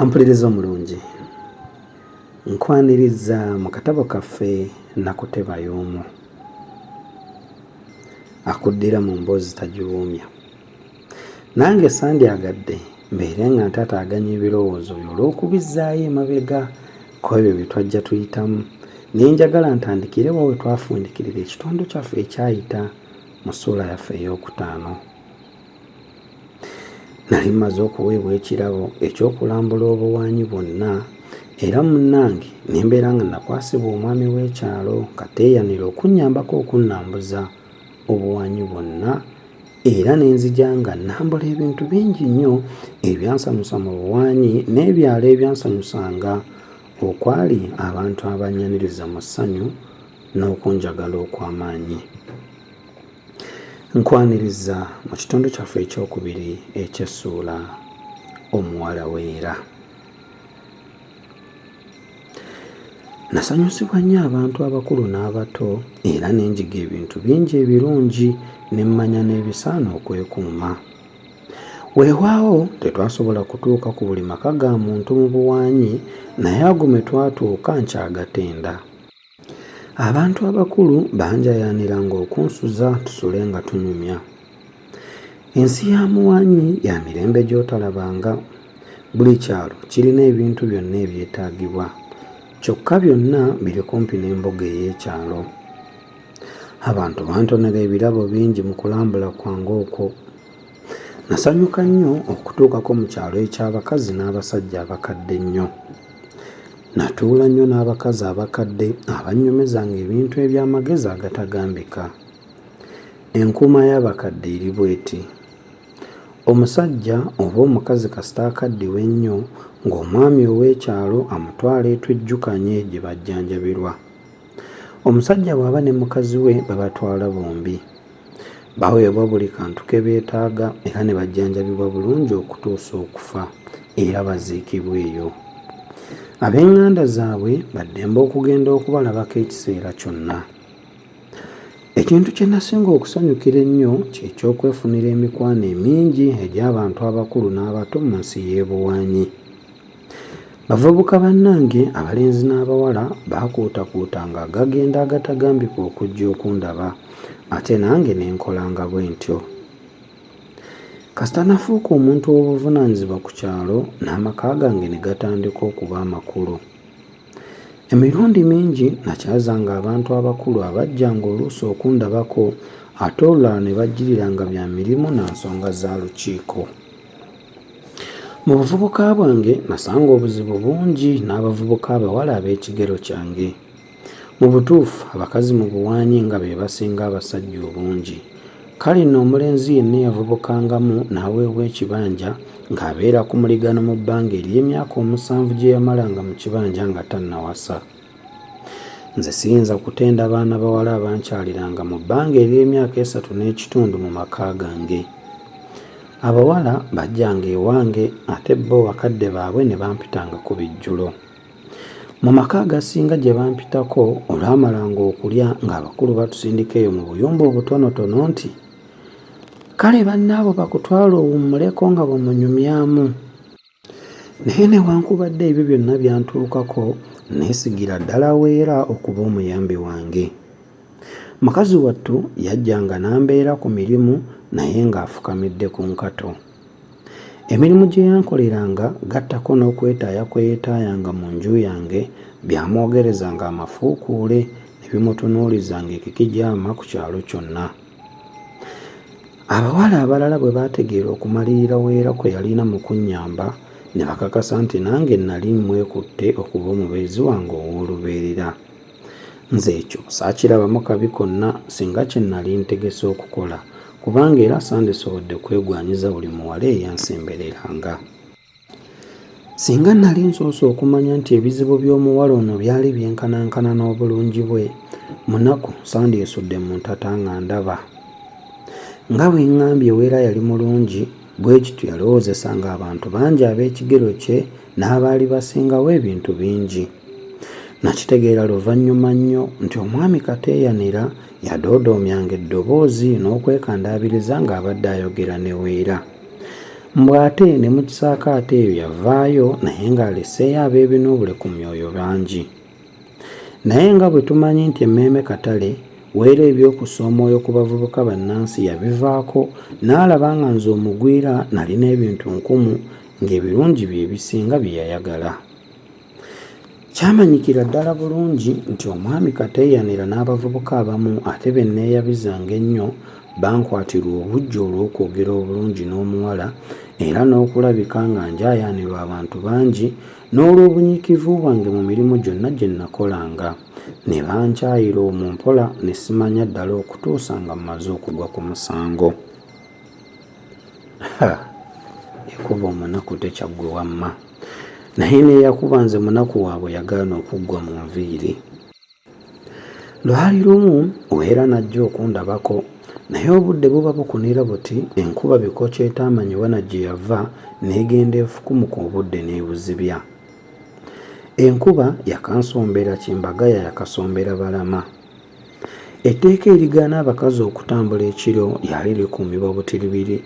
ampuliriza omulungi nkwaniriza mu katabo kaffe nakuteba y'omu akuddira mu mboozi tagiwoomya nange sandyagadde mbeere nga ntataaganya ebirowoozo byo olw'okubizzaayo emabega ku ebyo bye twajja tuyitamu ne njagala ntandikire wa we twafundikirira ekitundu kyaffe ekyayita mu ssuula yaffe ey'okutaano nali mmaze okuweebwa ekirabo eky'okulambula obuwaanyi bwonna era munnange ne mbeera nga nakwasibwa omwami w'ekyalo kateeyanira okunnyambako okunnambuza obuwaanyi bwonna era ne nzija nga nnambula ebintu bingi nnyo ebyansanyusa mu buwaanyi n'ebyalo ebyansanyusanga okwali abantu abannyaniriza mu ssanyu n'okunjagala okw'amaanyi nkwaniriza mu kitundu kyaffe ekyokubiri ekyessuula omuwala weera Nasanyusibwa nnyo abantu abakulu n'abato era ne njiga ebintu bingi ebirungi ne mmanya n'ebisaana okwekuuma. Weewaawo tetwasobola kutuuka ku buli maka ga muntu mu buwaanyi naye ago mwe twatuuka nkyagatenda. Abantu abakulu banjayaanira ng'okunsuza tusule nga tunyumya. Ensi ya muwaanyi ya mirembe gy'otalabanga. Buli kyalo kirina ebintu byonna ebyetaagibwa. Kyokka byonna biri kumpi n'embuga ey'ekyalo. Abantu bantonera ebirabo bingi mu kulambula kwange okwo. Nasanyuka nnyo okutuukako mu kyalo eky'abakazi n'abasajja abakadde ennyo. Natuula nnyo n'abakazi abakadde abannyumizanga ebintu eby'amagezi agatagambika. Enkuuma y'abakadde eri bw'eti, Omusajja oba omukazi kasita akaddiwa ennyo ng'omwami ow'ekyalo amutwala e Tujjukanye gye bajjanjabirwa. Omusajja bw'aba ne mukazi we babatwala bombi. Baweebwa buli kantu ke beetaaga era ne bajjanjabibwa bulungi okutuusa okufa era baziikibwa eyo. Ab'eŋŋanda zaabwe ba ddembe okugenda okubalabako ekiseera kyonna. Ekintu kye nasinga okusanyukira ennyo kye ky'okwefunira emikwano emingi egy'abantu abakulu n'abato mu nsi y'e Buwanyi. Bavubuka bannange abalenzi n'abawala baakuutakuutanga agagenda agatagambika okujja okundaba ate nange ne nkolanga bwe ntyo. Kasita nafuuka omuntu ow'obuvunaanyizibwa ku kyalo n'amaka gange ne gatandika okuba amakulu. Emirundi mingi nakyazanga abantu abakulu abajjanga oluusi okundabako ate olulala ne bajjiriranga bya mirimu na nsonga za lukiiko. Mu buvubuka bwange nasanga obuzibu bungi n'abavubuka abawala ab'ekigero kyange. Mu butuufu abakazi mu buwaanyi nga be basinga abasajja obungi. Kale nno omulenzi yenna eyavubukangamu n'aweebwa ekibanja ng'abeera ku muligano mu bbanga ery'emyaka omusanvu gye yamalanga mu kibanja nga tannawasa. Nze siyinza kutenda baana bawala abankyaliranga mu bbanga ery'emyaka esatu n'ekitundu mu maka gange. Abawala bajjanga ewange ate bo bakadde baabwe ne bampitanga ku bijjulo. Mu maka agasinga gye bampitako olwamalanga okulya ng'abakulu batusindika eyo mu buyumba obutonotono nti, Kale bannaabo bakutwala owummuleko nga bwe munyumyamu. Naye newankubadde ebyo byonna byantuukako, nneesigira ddala Weera okuba omuyambi wange. Mukazi wattu yajjanga n'ambeera ku mirimu naye ng'afukamidde ku nkato. Emirimu gye yankoleranga gattako n'okwetaaya kwe yeetaayanga mu nju yange byamwogerezanga amafuukuule ne bimutunuuliza ng'ekikijaama ku kyalo kyonna. Abawala abalala bwe baategeera okumalirira Weera kwe yalina mu kunnyamba, ne bakakasa nti nange nnali mmwekutte okuba omubeezi wange ow'olubeerera. Nze ekyo saakirabamu kabi konna singa kye nnali ntegese okukola, kubanga era sandisobodde kwegwanyiza buli muwala eyansembereranga. Singa nnali nsoose okumanya nti ebizibu by'omuwala ono byali byenkanankana n'obulungi bwe, munaku sandyesudde mu ntata nga ndaba. Nga bwe ŋŋambye Weera yali mulungi, bwe kityo yalowoozesa ng'abantu bangi ab'ekigero kye n'abaali basingawo ebintu bingi. Nakitegeera luvannyuma nnyo nti omwami Kateeyanira yadoodoomyanga eddoboozi n'okwekandaabiriza ng'abadde ayogera ne Weera. Mbu ate ne mu kisaakaate eyo yavaayo naye ng'aleseeyo abeebinoobule ku myoyo bangi. Naye nga bwe tumanyi nti emmeeme katale, Weera eby'okussa omwoyo ku bavubuka bannansi yabivaako n'alaba nga nze omugwira nalina ebintu nkumu ng'ebirungi bye bisinga bye yayagala. Kyamanyikira ddala bulungi nti omwami Kateeyanira n'abavubuka abamu ate be nneeyabizanga ennyo bankwatirwa obuggya olw'okwogera obulungi n'omuwala era n'okulabika nga njaayaanirwa abantu bangi n'olw'obunyiikivu bwange mu mirimu gyonna gye nnakolanga. Ne bankyayira omwo mpola ne simanya ddala okutuusa nga mmaze okugwa ku musango. Ha! Yakuba omunaku tekyaggwe wamma. naye neyakuba nze munaku waabwe yagaana okuggwa mu nviiri. Lwali lumu Wera najja okundabako naye obudde buba bukunira buti enkuba bikoca etaamanyi wana gye yava n'egenda efukumuka obudde n'ebuzibya. Enkuba yakansombera Kimbagaya yakasombera Balama. Etteeka erigaana abakazi okutambula ekiro lyali likuumibwa butiribiri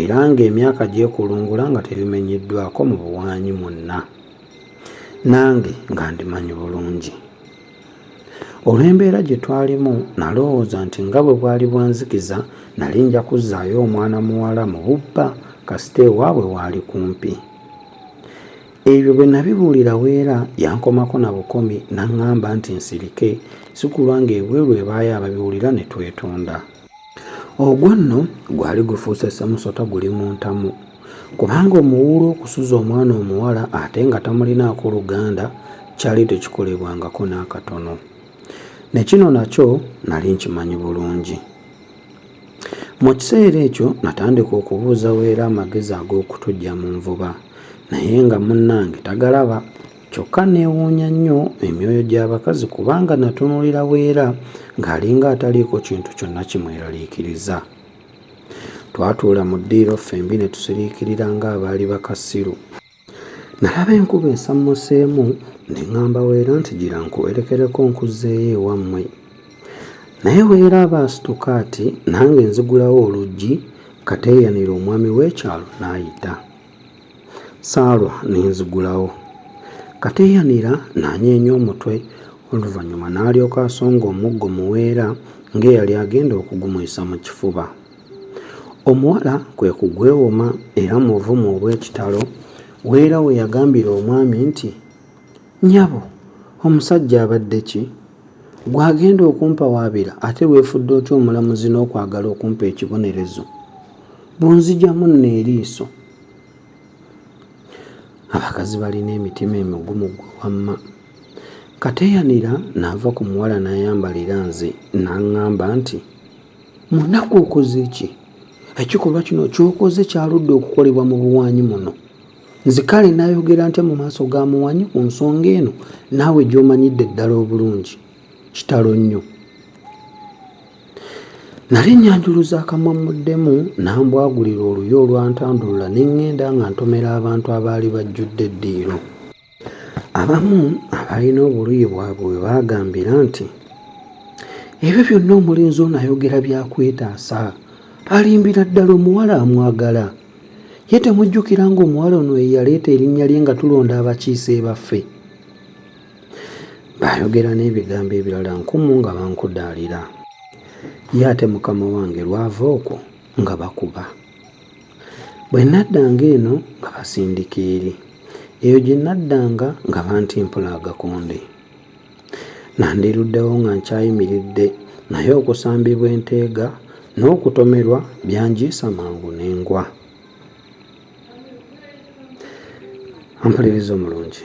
era ng'emyaka gyekulungula nga terimenyeddwako mu buwaanyi mwonna. Nange nga ndimanyi bulungi. Olw'embeera gye twalimu nalowooza nti nga bwe bwali bwanzikiza nali nja kuzzaayo omwana muwala mu bubba kasita ewaabwe waali kumpi. Ebyo bwe nabibuulira Weera yankomako na bukomi n'ang'amba nti nsirike sikulwa ng'ebweru ebaayo ababiwulira ne twetonda. Ogwo nno gwali gufuuse ssemusota guli mu ntamu kubanga omuwuulu okusuza omwana omuwala ate nga tamulinaako luganda kyali tekikolebwangako n'akatono. Ne kino nakyo nali nkimanyi bulungi. Mu kiseera ekyo natandika okubuuza Weera amagezi ag'okutuggya mu nvuba naye nga munnange tagalaba. Kyokka nneewuunya nnyo emyoyo gy'abakazi kubanga natunuulira Weera ng'alinga ataliiko kintu kyonna kimweraliikiriza. Twatuula mu ddiiro ffembi ne tusiriikirira ng'abaali bakasiru. Nalaba enkuba esammuseemu ne ŋŋamba Weera nti, Gira nkuwerekereko nkuzzeeyo ewammwe. Naye Weera aba asituka ati nange nzigulawo oluggi Kateeyanire omwami w'ekyalo n'ayita. Ssaalwa ne nzigulawo. Kateeyanira n'anyeenya omutwe oluvannyuma n'alyoka asonga omuggo mu Weera ng'eyali agenda okugumuyisa mu kifuba. Omuwala kwe kugwewoma era mu buvumu obw'ekitalo Weera we yagambira omwami nti, Nnyabo, omusajja abadde ki? Gw'agenda okumpawaabira ate weefudde otya omulamuzi n'okwagala okumpa ekibonerezo? Bw'onzigyamu nno eriiso! Abakazi balina emitima emigumu ggwe wamma. Kateyanira n'ava ku muwala n'ayambalira nze n'aŋŋamba nti, Munaku okoze ki? Ekikolwa kino ky'okoze kyaludde okukolebwa mu buwaanyi muno. Nze kale nayogera ntya mu maaso ga muwanyi ku nsonga eno naawe gy'omanyidde ddala obulungi? Kitalo nnyo. Nali nnyanjuluza akamwa mmuddemu n'ambwagulira oluyi olwantandulula ne ŋŋenda nga ntomera abantu abaali bajjudde eddiiro. Abamu abalina obuluyi bwabwe we baagambira nti ebyo byonna omulenzi ono ayogera byakwetaasa alimbira ddala omuwala amwagala ye temujjukira ng'omuwala ono eyaleeta erinnya lye nga tulonda abakiise baffe baayogera n'ebigambo ebirala nkumu nga bankudaalira ye ate mukama wange lwava okwo nga bakuba Bwe naddanga eno nga basindika eri, eyo gye naddanga nga bantimpula agakonde. Nandiruddewo nga nkyayimiridde naye okusambibwa enteega n'okutomerwa byanjiisa mangu ne ngwa. Mpuliriza omulungi.